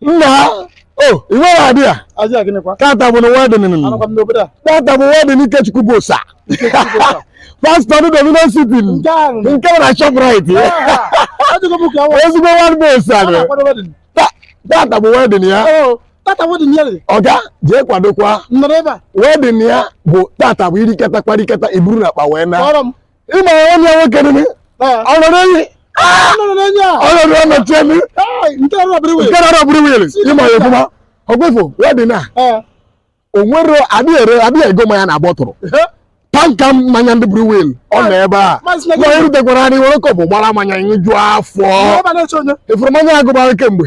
nna o ị nweghị idea Idea gịnịkwa? tata bụnụ wedding nụ Anọkwa m n'obodo a. tata bụ wedding Ikechukwu Bosa pastor ndị Dominion City nụ. Nke ahụ. nke bụ na Shoprite Ajụgo m ka awa. ezigbo nwanne Bosa nụ. Anọkwa wedding. Ta- tata bụ wedding ya Oo, tata wedding ya dị. ọga jee kwadokwa Nnọrọ ebe a. wedding ya bụ tata bụ i rikata kparikata i buru n'akpa wee naa Kpọrọ m. ị ma onye nwoke dị ọ nọ n'enyi ọ nọ n'ọnọchi elu nke na-arụ brewery ị ma ya ofụma ọgwefo wedding a o nwere adịghị ere adịghị ego mmanya na bottle tanker mmanya ndị brewery ọ nọ ebe a ma erutekwara anyị were cup gbara mmanya ị ṅụju afọ ị fụrụ mmanya agụbara kemgbe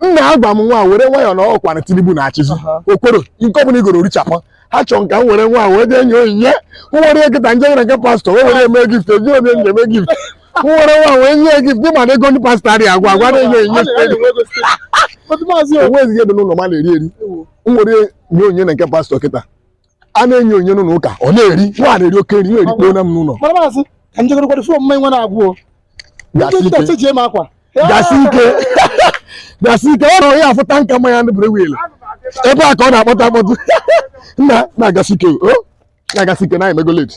nna ha gwa m nwa were nwayọọ na ọkwa na tinubu na-achịzi okworo nke ọbụla i goro richapụ ha chọrọ ka m were nwa wee jee nye onyinye nwere nkịta nje nwere nke pastor wee were eme gift eji onye nje eme gift m were nwa wee nye gift ị ma na ego ndị pastor adịghị agwụ agwụ na-enye onyinye enweghịzi ihe dị n'ụlọ m na-eri eri m were nye onyinye na nke pastor kịta a na-enye onye n'ụlọ ụka ọ na-eri nwa na-eri oke nri nwere ikpe na m n'ụlọ mara maazị ka m jegoro kwado fụọ mma nwa na-agwụ gasị ike nche ji eme akwa gasị ike gasị ike ọ ruru ya afụ tanker mmanya ndị brewery ebe a ka ọ na-akpọtụ akpọtụ nna na-agasị ike o na-agasị ike na anyị emego late